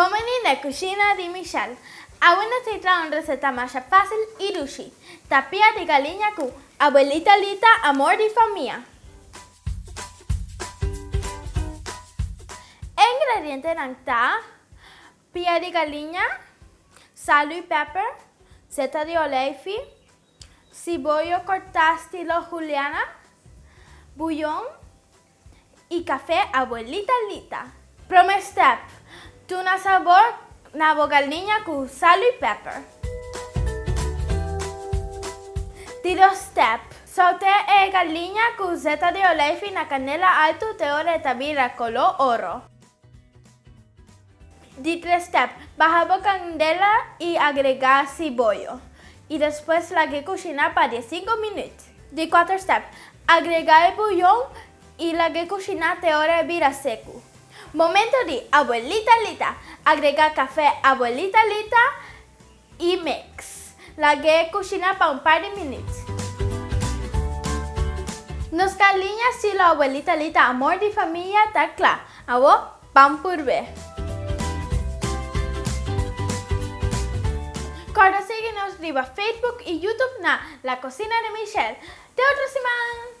Bon veni na cushina di Michelle. Awe nos a traha un receta masha facil y dushi, tapia di galiña cu Abuelita Lita amor di famia. E ingredientenan ta, pia di galiña, sal y peper, seta di olijfi, Si bo yo corta stilo Juliana, buyon y cafe abuelita Lita. Prome step, Tuna sabor na bo galniña cu sal y pepper. Di dos step, Sautea e galniña cu zeta de olijfi na canela alto te ora e ta bira colo oro. Di tres step, baha bo candela y agrega ciboyo y despues lag'e cushina pa die cinco minuut. Di cuater step, agrega e bouyon y lag'e cushina te ora e bira secu. Momento di Abuelita Lita, agrega cafe Abuelita Lita I mix. Lag'é kushina pa un par di minüt. Nos kaliña si lo abuelita li ta amor di famia ta kla. Awo pan purbe. Kòrda sigui nos riba Facebook i YouTube na La Cocina de Michelle. Te otro siman!